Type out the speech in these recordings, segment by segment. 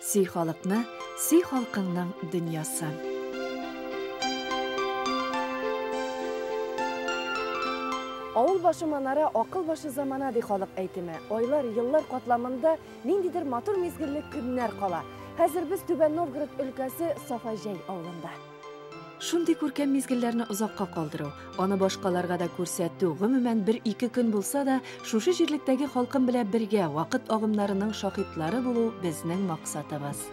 Сөй халыкны, сөй халкыңның дөньясын. Авыл башы манара, акыл башы замана ди халык әйтеме. Айлар, еллар катламында ниндидер матур мизгелле көннәр кала. Хәзер без Түбән Новгород өлкәсе Сафаҗәй авылында. Шундый күркәм мизгелләрне озакка калдыру, аны башкаларга да күрсәтү, гомумән, бер-ике көн булса да, шушы җирлектәге халкым белән бергә вакыт агымнарының шаһитлары булу безнең максатыбыз.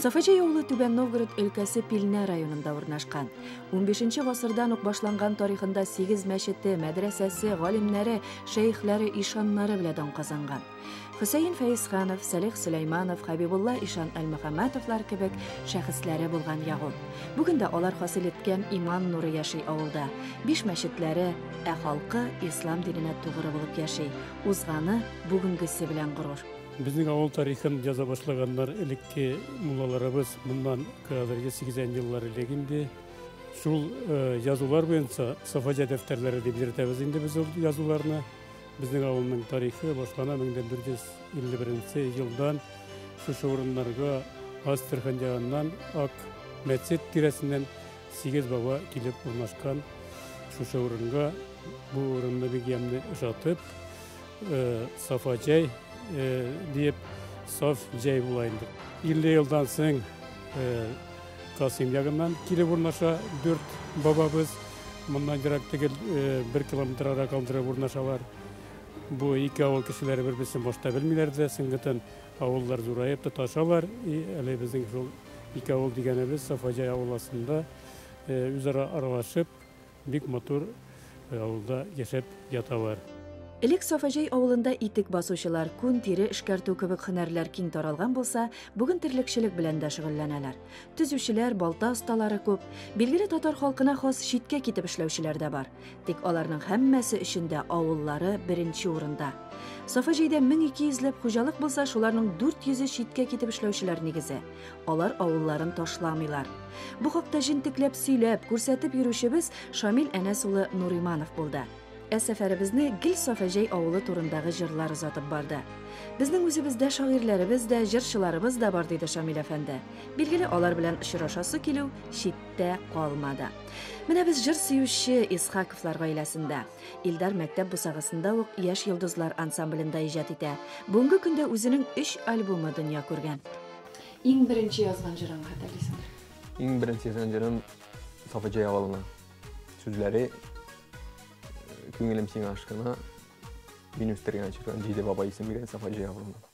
Сафаҗәй авылы Түбән Новгород өлкәсе Пилнә районында урнашкан. 15 гасырдан ук башланган тарихында сигез мәчете, мәдрәсәсе, галимнәре, шәехләре, ишаннары белән дан казанган. Хөсәен Фәйсханов, Сәлих Сөләйманов, Хәбибулла Ишан Әлмөхәммәтовлар кебек шәхесләре булган ягул. Бүген дә алар хасил иткән иман нуры яши авылда. Биш мәчетләре, ә халкы ислам диненә тугры булып яши. Узганы, бүгенгесе белән горур. Безнең авыл тарихын яза башлаганнар элекке муллаларыбыз моннан хәзерге 80 еллар элек инде. Шул э, язулар буенча Сафаҗа дәфтәрләре дип йөртәбез инде без ул язуларны. Безнең авылның тарихы башлана 1451 елдан шушы урыннарга Астрахань ягыннан Ак мәчет тирәсеннән сигез баба килеп урнашкан шушы урынга бу урынны бик ямьле ошатып э, сафа җәй э, диеп саф җәй була инде 50 елдан соң э, Касыйм ягыннан килеп урнаша дүрт бабабыз. Моннан ерак түгел, бер километр ара калдырып урнашалар. Бу ике авыл кешеләре бер-берсен башта белмиләр дә, соңгытын авыллар зураеп тоташалар. И әле безнең шул ике авыл дигәнебез Сафаҗай авыласында үзара аралашып, Бик матур авылда яшәп яталар. Элек Сафаҗәй авылында итек басучылар, күн, тире эшкәртү кебек һөнәрләр киң таралган булса, бүген терлекчелек белән дә шөгыльләнәләр. Төзүчеләр, балта осталары күп. Билгеле татар халкына хас читкә китеп эшләүчеләр дә бар. Тик аларның һәммәсе өчен дә авыллары беренче урында. Сафаҗәйдә 1200 ләп хуҗалык булса, шуларның 400-е читкә китеп эшләүчеләр нигезе. Алар авылларын ташламыйлар. Бу хакта җентекләп сөйләп, күрсәтеп йөрүчебез Шамил Әнәс улы Нуриманов булды. Ә сәфәребезне гел Сафәҗәй авылы турындагы җырлар озатып барды. Безнең үзебездә шагыйрьләребез дә, җырчыларыбыз да бар, диде Шамил әфәнде. Билгеле, алар белән очрашасы килү читтә калмады. Менә без җыр сөюче Исхаковлар гаиләсендә. Илдар мәктәп бусагасында ук Яшь йолдызлар ансамблендә иҗат итә. Бүгенге көндә үзенең 3 альбомы дөнья күргән. Иң беренче язган җырың хәтерлисеңме? Иң беренче язган җырым Сафаҗай авылына. Сүзләре Күңелем сиңа ашкына, мин үстергән чиркан, җиде бабай исем биргән Сафаҗай авылына.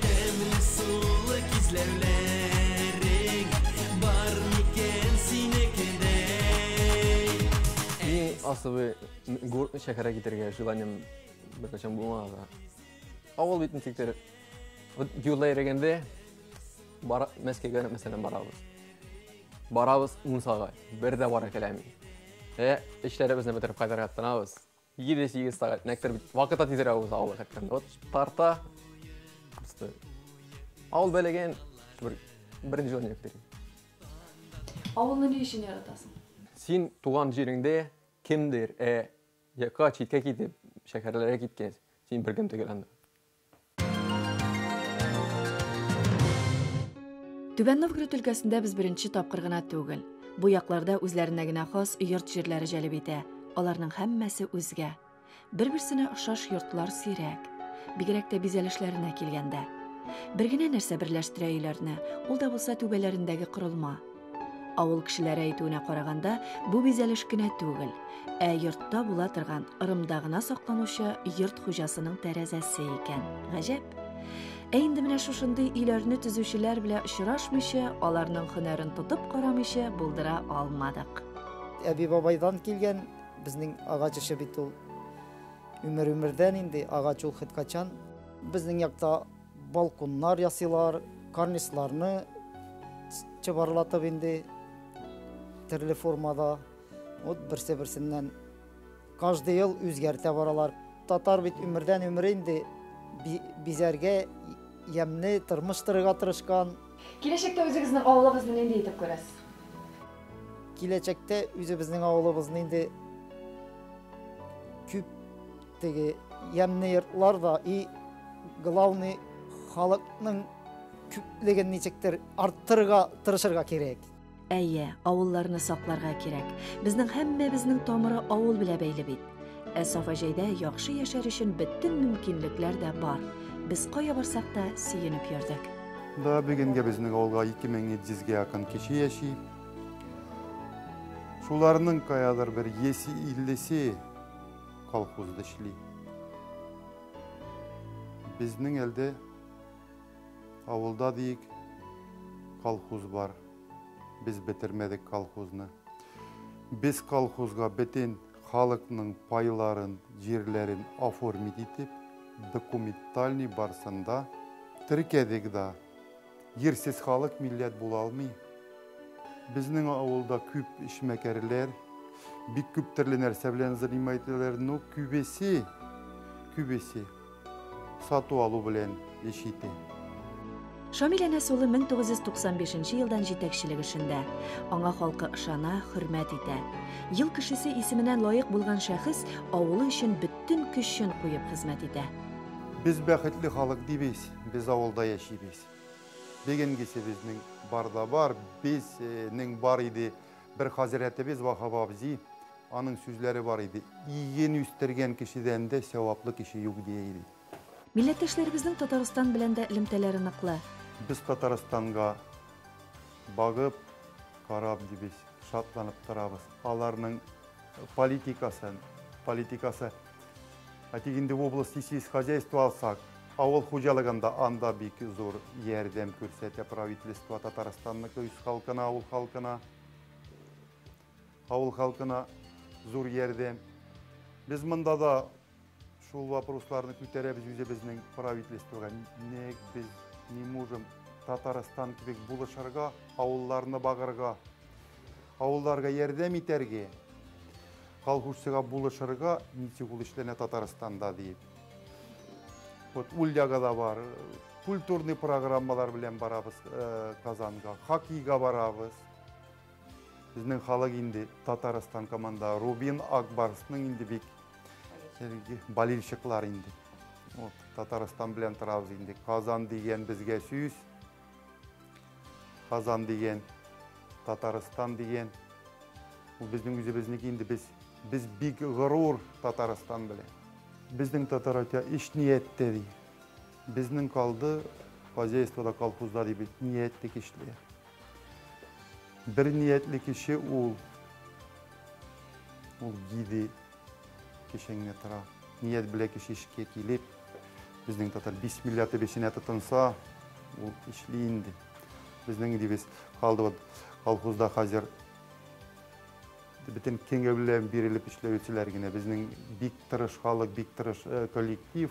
Тәмле сулы кизләүләрең, бар микән синекедәй? Иң асылы, гуртны шәһәргә китергә желанием беркайчан булмаган да. Авыл бит ничек тә, вот юлда йөрегәндә, бара, Мәскәүгә, мәсәлән, барабыз. Барабыз мунчага, бер дә бара киләми. Ә эшләребезне бетереп кайтырга тынабыз. Җиде сигез сәгать мәктәп бит. Вакыт та тизрәк уза авыл хәтта. Вот тарта. Просто авыл бәләгән бер беренче җан йөрәктер. Авылны ни өчен яратасың? Син туган җиреңдә кемдер, ә якка читкә китеп, шәһәрләргә киткәч, син беркем түгел анда. Түбән Новгород өлкәсендә без беренче тапкыр гына түгел. Бу якларда үзләренә генә хас йорт җирләре җәлеп итә. Аларның һәммәсе үзгә. Бер-берсенә ошаш йортлар сирәк. Бигрәк тә бизәлешләренә килгәндә. Бер генә нәрсә берләштерә өйләрне, ул да булса түбәләрендәге корылма. Авыл кешеләре әйтүенә караганда, бу бизәлеш кенә түгел, ә йортта була торган ырымда гына сакланучы йорт хуҗасының тәрәзәсе икән. Гаҗәп. Ә инде менә шушындый өйләрне төзүчеләр белән очрашмыйча, аларның һөнәрен тотып карамыйча булдыра алмадык. Әби бабайдан килгән безнең агач эше бит ул. Өмер өмердән инде агач ул хет качан. Безнең якта Балконнар ясыйлар, карнизларны чыбарлатып инде төрле формада. Вот берсе-берсеннән каждый ел үзгәртә баралар. Татар бит өмердән өмер инде бизәргә ямьле тормыш торырга тырышкан. Киләчәктә үзегезнең авылыгызны нинди итеп күрәсез? Киләчәктә үзебезнең авылыбызны инде күп Теге ямьле йортлар да и главный халыкның күплеген ничектер арттырырга тырышырга кирәк. Әйе, авылларны сакларга кирәк. Безнең һәммәбезнең тамыры авыл белә бәйле бит. Ә Сафаҗәйдә яхшы яшәр өчен бөтен мөмкинлекләр дә бар. Без кая барсак та сөенеп йөрдек. Да бүгенге безнең авылга 2700 гә якын кеше яши. Шуларның каядыр бер 150-се Колхозда эшли. Безнең әлдә авылда диек колхоз бар. Без бетермәдек колхозны. Без колхозга бетен халыкның пайларын, җирләрен оформить итеп, документальный барсында теркәдек да. Җирсез халык милләт була алмый. Безнең авылда күп эшмәкәрләр, бик күп төрле нәрсә белән занимайтеләр, но күбесе, күбесе сату алу белән эш ите. Шамил Әнәс улы 1995 елдан җитәкчелек эшендә. Аңа халкы ышана, хөрмәт итә. Ел кешесе исеменә лаек булган шәхес авылы өчен бөтен көчен куеп хезмәт итә. Без бәхетле халык дибез. Без авылда яшибез. Бегенгесе безнең бар да бар. Безнең бар иде бер хазрәтебез Вахап абзи. Аның сүзләре бар иде. Иген үстергән кешедән дә сәваплы кеше юк дия иде. Милләттәшләребезнең Татарстан белән дә элемтәләре ныклы. Без Татарстанга багып, карап дибез, шатланып торабыз. Аларның политикасын, политикасы. Ә тик инде области сельскохозяйство алсак, авыл хуҗалыгында анда бик зур ярдәм күрсәтә правительство Татарстанныкы үз халкына, авыл халкына. Авыл халкына зур ярдәм. Без монда да шул вопросларны күтәрәбез үзебезнең правительствога. Ник без не можем Татарстан кебек булышырга, авылларны багырга? Авылларга ярдәм итәрге, колхозчыга булышырга ничек ул эшләнә Татарстанда диеп. Вот Ульяга да бар, культурный программалар белән барабыз э, Казанга, хоккейга барабыз. Безнең халык инде Татарстан команда Рубин Акбарсның инде бик болельщиклар инде. Вот, Татарстан белән торабыз инде. Казан дигән безгә сүз. Казан дигән, Татарстан дигән. Ул безнең үзебезнеке инде без без бик горур Татарстан белән. Безнең татар әйтә, иш нияттә ди. Безнең калды хозяйствода, колхозда ди бит, ниятле кешеләр. Бер ниятле кеше ул ул гиде Кешеңне тора. Ният белән кеше эшкә килеп, безнең татар бисмилла дип эшенә тотынса, ул эшли инде. Безнең дибез калды вот колхозда хәзер бөтен киңе белән бирелеп эшләүчеләр генә. Безнең бик тырыш халык, бик тырыш э, коллектив.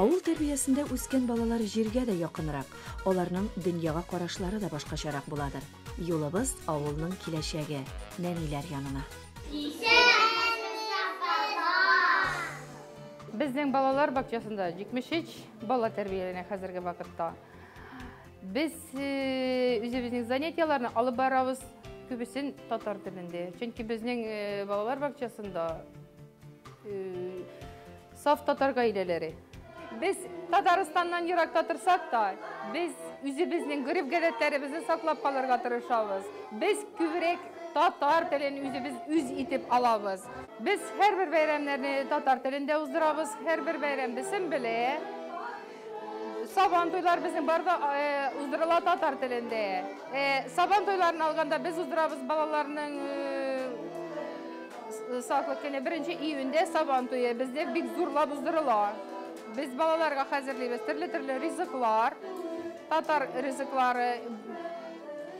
Авыл тәрбиясендә үскән балалар җиргә дә якынрак, аларның дөньяга карашлары да башкачарак буладыр. Юлыбыз авылның киләчәге, нәниләр янына. Безнең балалар бакчасында 73 бала тәрбияләнә хәзерге вакытта. Без үзебезнең занятияләрне алып барабыз, күбесен татар телендә. Чөнки безнең балалар бакчасында Саф татар гаиләләре. Без Татарстаннан еракта торсак та, без үзебезнең гореф-гадәтләребезне саклап калырга тырышабыз. Без күбрәк татар телен үзебез үз итеп алабыз. Без һәрбер бәйрәмнәрне татар телендә уздырабыз, һәрбер бәйрәмбесен белә. Сабан туйлар безнең барда э, уздырыла татар телендә. Э, сабан туйларын алганда без уздырабыз балаларның э, саклык көне беренче июньдә сабан туе бездә бик зурлап уздырыла. Без балаларга хәзерлибез төрле-төрле ризыклар, татар ризыклары,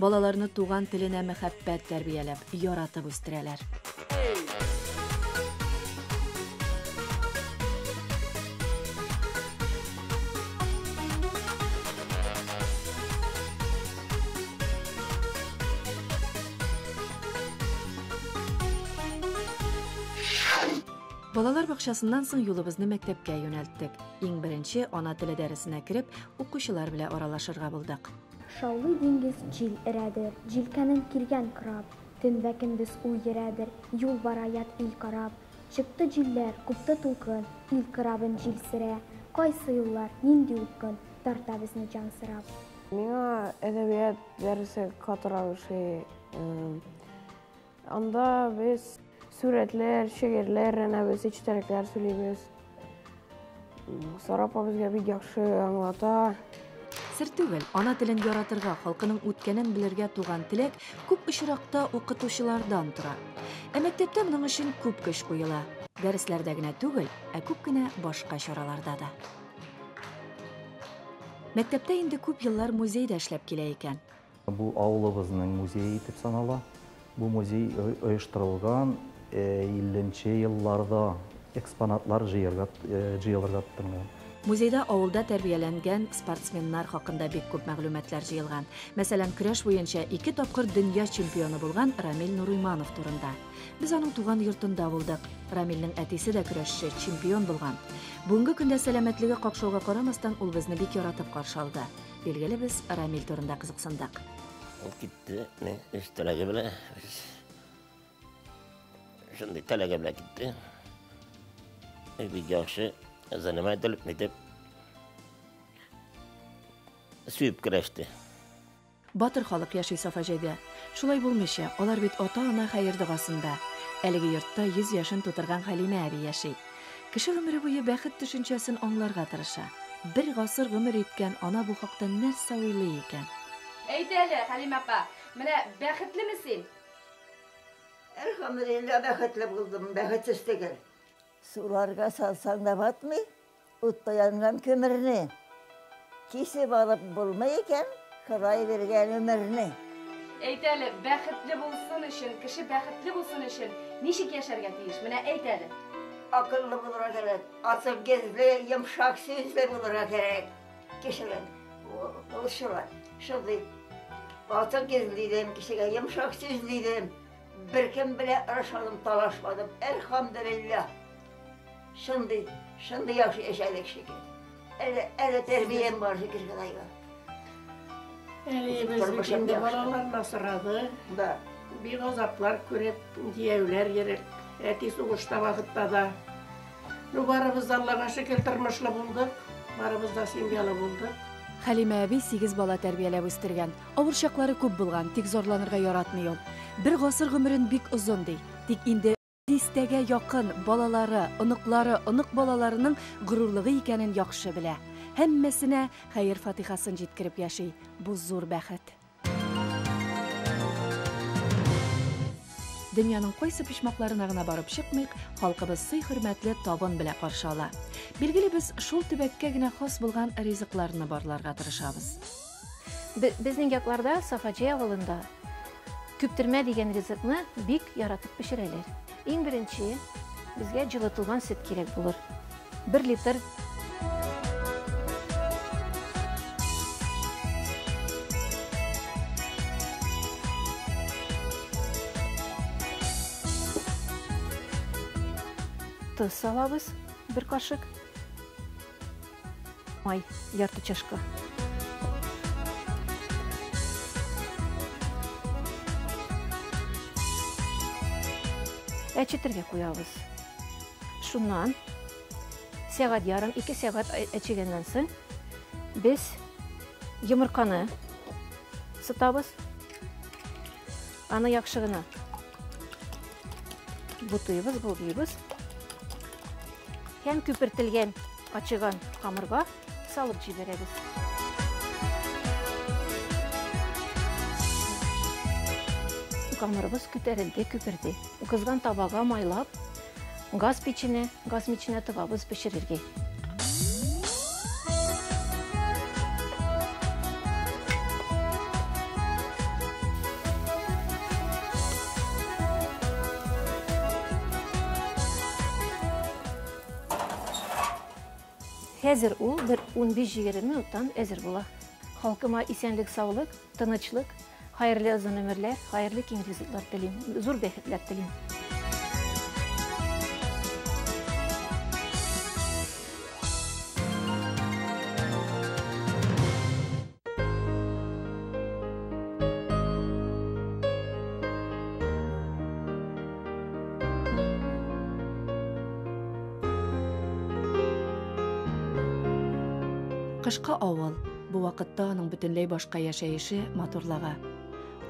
Балаларны туган теленә мәхәббәт тәрбияләп, яратып үстерәләр. Балалар бакчасыннан соң юлыбызны мәктәпкә юнәлттек. Иң беренче ана теле дәресенә кереп, укучылар белән аралашырга булдык. Шаулый диңгез, җил өрәдер. Җилкәнен килгән краб. Төн вә көндез ул йөрәдер. Юл бара ят ил карап. Чыкты җилләр, купты тулкын. Ил крабын җил сөрә. Кайсы юллар, нинди упкын. Тарта безне җансырап. Миңа әдәбият дәресе катырак ошый. Анда без сурәтләр, шигырьләр рәнәбез, эчтәлекләр сөйлибез. Сарапа безгә бик яхшы аңлата. Сер түгел, ана телен яратырга, халкының үткәнен белергә туган теләк күп очракта укытучылардан тора. Ә мәктәптә моның өчен күп көч куела. Дәресләрдә генә түгел, ә күп кенә башка чараларда да. Мәктәптә инде күп еллар музейда эшләп килә икән. Бу авылыбызның музее итеп санала. Бу музей оештырылган илленче елларда экспонатлар җыярга җыялырга тотынган. Музейда авылда тәрбияләнгән спортсменнар хакында бик күп мәгълүматлар җыелган. Мәсәлән, көрәш буенча ике тапкыр дөнья чемпионы булган Рамил Нурыйманов турында. Без аның туган йортында булдык. Рамилнең әтисе дә көрәшче, чемпион булган. Бүгенге көндә сәламәтлеге какшауга карамастан, ул безне бик яратып каршы алды. Билгеле, без Рамиль турында кызыксындык. Ул китте, мин үз теләге белән, үз шундый теләге белән китте. И бик яхшы, заниматель, нитеп, сөйіп көрәште. Батыр халык яши Сафа җәйдә. Шулай булмыйча, алар бит ата-ана хәер догасында. Әлеге йортта 100 яшен тутырган Хәлимә әби яши. Кеше гомере буе бәхет төшенчәсен аңларга тырыша. Бер гасыр гомер иткән ана бу хакта нәрсә уйлый икән? Әйт әле, Хәлимә апа, менә бәхетлеме син? Әлхәмдулиллаһ, бәхетле булдым, бәхетсез түгел. Суларга салсаң да батмый, утта янган көмерне. Кисеп алып булмый икән Ходай биргән өмерне. Әйт әле, бәхетле булсын өчен, кеше бәхетле булсын өчен ничек яшәргә тиеш? Менә әйт әле. Акыллы булырга кирәк, ачык йөзле, йомшак сүзле булырга кирәк. Кешегә ул шулай, шундый ачык йөзле идем, кешегә йомшак сүзле идем. Беркем белән орышмадым, талашмадым, әлхәмдүлилләһ. Шундый, шундый яхшы яшәдек шикелле. Әле, әле тәрбиям бар, шөкер Ходайга. Әле ебез инде балаларын асырады. Да. Бик азаплар күреп, дияүләр ереп, әти сугышта вакытта да. Ну, барыбыз да, Аллага шөкер, тормышлы булдык. Барыбыз да семьялы булдык. Хәлимә әби сигез бала тәрбияләп үстергән. Авыр чаклары күп булган, тик зарланырга яратмый ул. Бер гасыр гомерен бик озын ди. Тик инде Дистәгә якын балалары, оныклары, онык балаларының горурлыгы икәнен яхшы белә. Һәммәсенә хәер-фатихасын җиткереп яши. Бу зур бәхет. Дөньяның кайсы почмакларына гына барып чыкмыйк, халкыбыз сый-хөрмәтле табын белә каршы ала. Билгеле, без шул төбәккә генә хас булган ризыкларны барларга тырышабыз. Безнең якларда Сафаҗай авылында Көптермә дигән ризыкны бик яратып пешерәләр. Иң беренче безгә җылытылган сөт кирәк булыр. Бер литр. Тоз салабыз, бер кашык. Май, ярты чашка. Әчетергә куябыз. Шуннан сәгать ярым, ике сәгать әчегәннән соң без йомырканы сытабыз. Аны яхшы гына бутыйбыз, болгыйбыз. Һәм күпертелгән Ачыган камырга салып җибәрәбез. Камырыбыз күтәрелде, күперде. Кызган табага майлап, газ печенә, газ миченә тыгабыз пешерергә. Хәзер ул бер 15-20 минуттан әзер була. Халкыма исәнлек-саулык, тынычлык, хәерле озын өмерләр, хәерле киң ризыклар телим, зур бәхетләр телим. Кышкы авыл. Бу вакытта аның бөтенләй башка яшәеше, матурлыгы.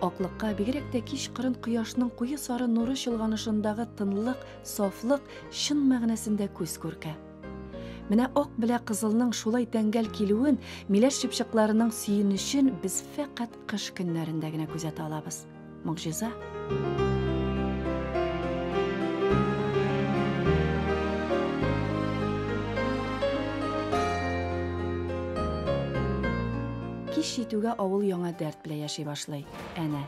Аклыкка, бигрәк тә кич кырын кояшның куе сары нуры чолганышындагы тынлык, сафлык чын мәгънәсендә күз күркә. Менә ак белә кызылның шулай тәңгәл килүен, миләш чыпчыкларының сөенечен без фәкать кыш көннәрендә генә күзәтә алабыз. Могҗиза. Кич җитүгә авыл яңа дәрт белән яши башлый. Әнә,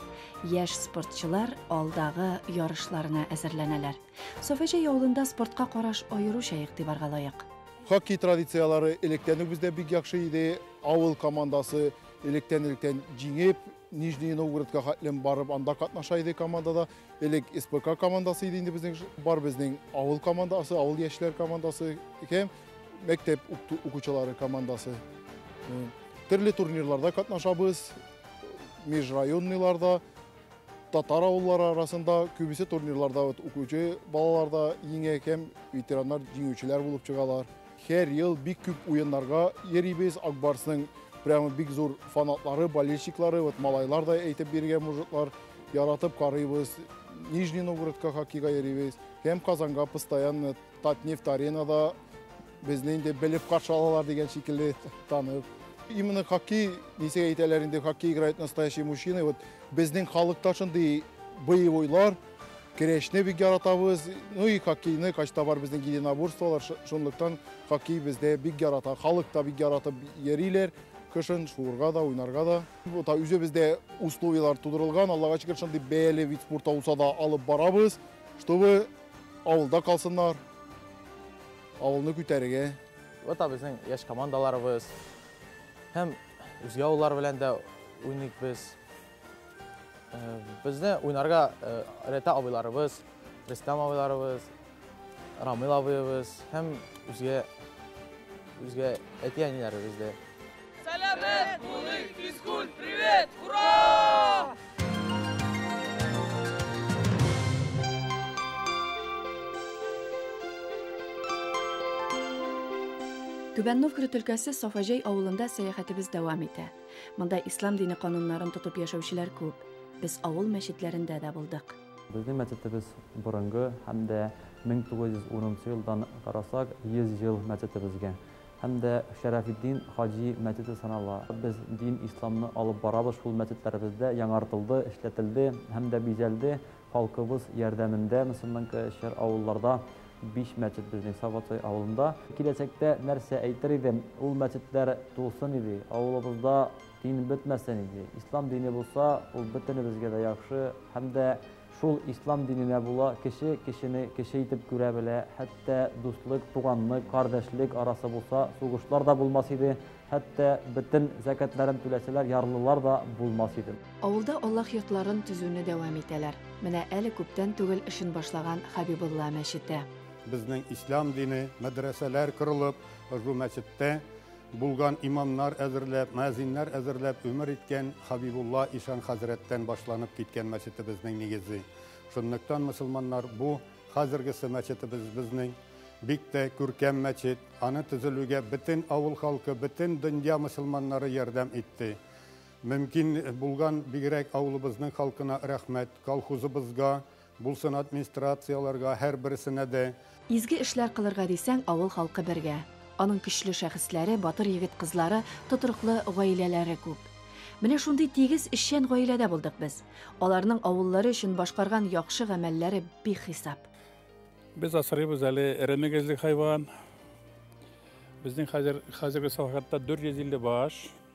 яшь спортчылар алдагы ярышларына әзерләнәләр. Софәҗәй авылында спортка караш аеруча игътибарга лаек. Хоккей традицияләре электән үк бездә бик яхшы иде. Авыл командасы электән-электән җиңеп, Нижний Новгородка хәтлем барып, анда катнаша иде командада. Элек СПК командасы иде инде безнең, бар безнең авыл командасы, авыл яшьләр командасы һәм мәктәп укучылары командасы. Төрле турнирларда катнашабыз, межрайонныйларда. Татар авыллары арасында күбесе турнирларда укучы балалар да еңә һәм ветераннар җиңүчеләр булып чыгалар. Һәр ел бик күп уеннарга йөрибез. Акбарсның прямо бик зур фанатлары, болельщиклары, вот малайлар да әйтеп биргән мужиклар, яратып карыйбыз. Нижний Новгородка хоккейга йөрибез һәм Казанга постоянно Татнефть аренада Безне инде белеп каршы алалар дигән шикелле танып. Именно хоккей, нисек әйтәләр инде, хоккей играет настоящий мужчина. Вот безнең халыкта шундый боевойлар, керәшне бик яратабыз. Ну и хоккейны, качта бар безнең единоборстволар, шунлыктан хоккей бездә бик ярата. Халык та бик яратып йөриләр. Кышын шуырга да, уйнарга да. Вот үзе бездә условиялар тудырылган. Аллага шөкер, шундый бәяле вид спорта булса да алып барабыз, чтобы Авылда калсыннар, авылны күтәрергә. Вот та безнең яшь командаларыбыз һәм үзгә авыллар белән дә уйныйк без. Э, безне уйнарга э, рәтә абыйларыбыз, Рөстәм абыйларыбыз, Рамил абыебыз һәм үзгә үзгә әти-әниләребез дә. Сәләмәт булыйк, физкульт, привет, ура! Түбән Новгород өлкәсе Сафаҗәй авылында сәяхәтебез дәвам итә. Монда ислам дине кануннарын тотып яшәүчеләр күп. Без авыл мәчетләрендә дә булдык. Безнең мәчетебез борынгы һәм дә 1910 елдан карасак, 100 ел мәчетебезгә. Һәм дә Шәрәфетдин хаҗи мәчете санала. Без дин исламны алып барабыз шул мәчетләребездә, яңартылды, эшләтелде һәм дә бизәлде. Халкыбыз ярдәмендә мөселман кшр авылларда биш мәчет безнең Саватсай авылында. Киләчәктә нәрсә әйтер идем, ул мәчетләр тулсын иде, авылыбызда дин бетмәсен иде. Ислам дине булса, ул бөтенебезгә дә яхшы һәм дә Шул ислам диненә була, кеше кешене кеше итеп күрә белә, хәтта дуслык, туганлык, кардәшлек арасы булса, сугышлар да булмас иде, хәтта бөтен зәкятләрен түләсәләр, ярлылар да булмас иде. Авылда Аллаһ йортларын төзүне дәвам итәләр. Менә әле күптән түгел эшен башлаган Хәбибулла мәчете. Безнең ислам дине мәдрәсәләр корылып, ошбу мәчеттә Булган имамнар әзерләп, мөәзиннәр әзерләп өмер иткән Хабибулла ишан хәзрәттән башланып киткән мәчетебезнең нигезе. Шунлыктан мөселманнар бу хәзергесе мәчетебезбезнең бик тә күркәм мәчет, аны төзелүгә бөтен авыл халкы, бөтен дөнья мөселманнары ярдәм итте. Мөмкин булган бигрәк авылыбызның халкына рәхмәт, колхозыбызга, Булсын администрацияләргә, һәрберсенә дә. Изге эшләр кылырга дисәң, авыл халкы бергә. Аның көчле шәхесләре, батыр егет-кызлары, тотрыклы гаиләләре күп. Менә шундый тигез, эшчән гаиләдә булдык без. Аларның авыллары өчен башкарган яхшы гамәлләре бихисап. Без асрыйбыз әле эре мөгезле хайван. Безнең хәзер, хәзерге салахатта 450 баш.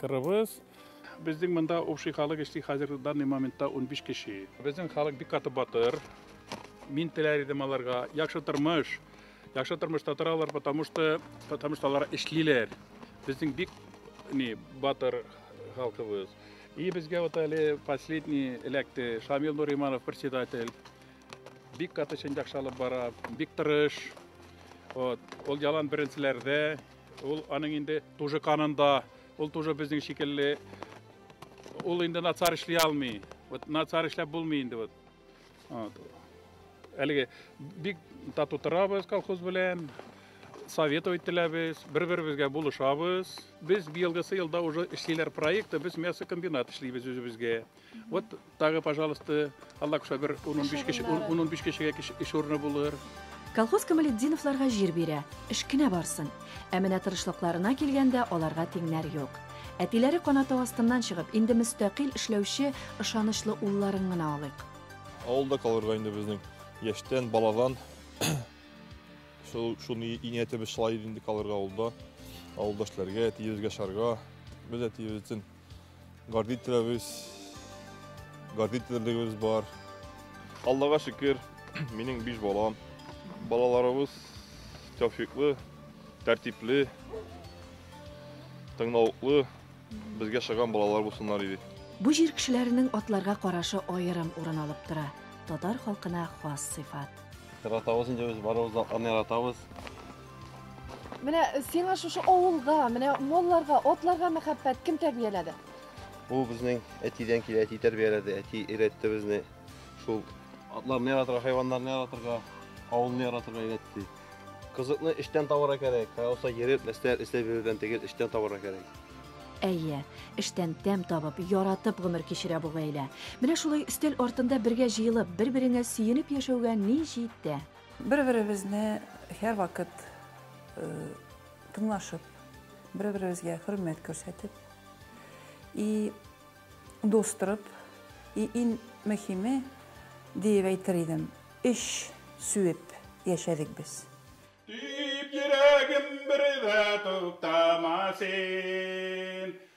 Кырыбыз. Безнең монда общий халык эшли хәзер данный моментта 15 кеше. Безнең халык бик каты батыр. Мин теләр идем аларга яхшы тормыш. Яхшы тормышта торалар, потому что потому что алар эшлиләр. Безнең бик ни батыр халкыбыз. И безгә вот әле последний эләкте Шамил Нуриманов председатель. Бик каты чын яхшы алып бара, бик тырыш. Вот, ул ялан беренчеләрдә Ул аның инде тужы канында, ул тужы безнең шикелле. Ул инде нацар эшли алмый. Вот нацар эшләп булмый инде вот. Вот. Әлеге бик тату торабыз колхоз белән. Совет өйтеләбез, бер-беребезгә булышабыз. Без быелгысы елда уже эшлиләр проекты, без мясокомбинат эшлибез үзебезгә. Вот тагы, пожалуйста, Алла куша бер 10-15 кеше, 10-15 кешегә эш урыны булыр. Колхоз Камалетдиновларга җир бирә, эш кенә барсын. Ә менә тырышлыкларына килгәндә аларга тиңнәр юк. Әтиләре канатау астыннан чыгып, инде мөстәкыйль эшләүче ышанычлы улларын гына алыйк. Авылда калырга инде безнең яшьтән, баладан шуны ниятебез шулай инде калырга авылда. Авылдашларга, әтиебезгә шарга, без әтиебез өчен Гордителебез, гордителебез бар. Аллага шөкер, минем биш балам. Балаларыбыз тәүфиклы, тәртипле, тыңлавыклы, безгә шыган балалар булсыннар иде. Бу җир кешеләренең атларга карашы аерым урын алып тора. Татар халкына хас сыйфат. Яратабыз инде без барыбыз да атларны яратабыз. Менә сиңа шушы авылга, менә малларга, атларга мәхәббәт кем тәрбияләде? Бу безнең әтидән килә, әти тәрбияләде, әти өйрәтте безне. Шул атларны яратырга, хайваннарны яратырга, авылны яратырга өйрәтте. Кызыкны эштән табарга кирәк. Кайсы йөреп, нәрсәләр эшләп йөрүдән тигез эштән табарга кирәк. Әйе, эштән тәм табып, яратып гомер кичерә бу гаилә. Менә шулай өстәл артында бергә җыелып, бер-береңә сөенеп яшәүгә ни җитә? Бер-беребезне һәрвакыт тыңлашып, бер-беребезгә хөрмәт күрсәтеп, и дус торып, и иң мөһиме диеп әйтер идем, эш сүеп яшәдек без. Дип йөрәгем бер дә туктама син,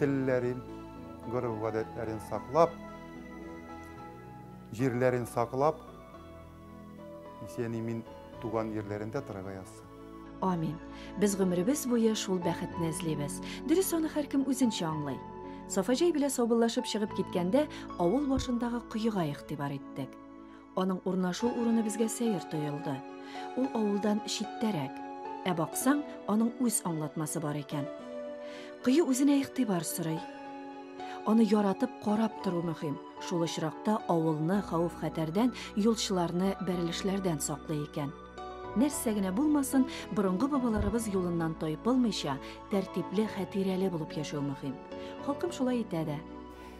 телләрен, гореф-гадәтләрен саклап, җирләрен саклап, исән-имин туган җирләрендә торырга язсын. Амин. Без гомеребез буе шул бәхетне эзлибез. Дөрес аны һәркем үзенчә аңлый. Сафаҗай белә саубыллашып чыгып киткәндә, авыл башындагы коега игътибар иттек. Аның урнашу урыны безгә сәер тоелды. Ул авылдан читтәрәк. Ә баксаң, аның үз аңлатмасы бар икән. Кыю үзенә игътибар сорый. Аны яратып карап тору мөһим. Шул очракта авылны хәвеф-хәтәрдән, юлчыларны бәрелешләрдән саклый икән. Нәрсә генә булмасын, борынгы бабаларыбыз юлыннан тайпылмыйча, тәртипле, хәтирәле булып яшәү мөһим. Халкым шулай итә дә.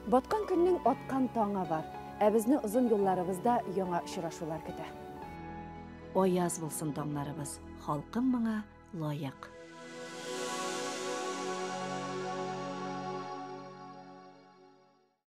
Баткан көннең аткан таңы бар, ә безне озын юлларыбызда яңа очрашулар көтә. Аяз булсын таңнарыбыз, халкым моңа лаек.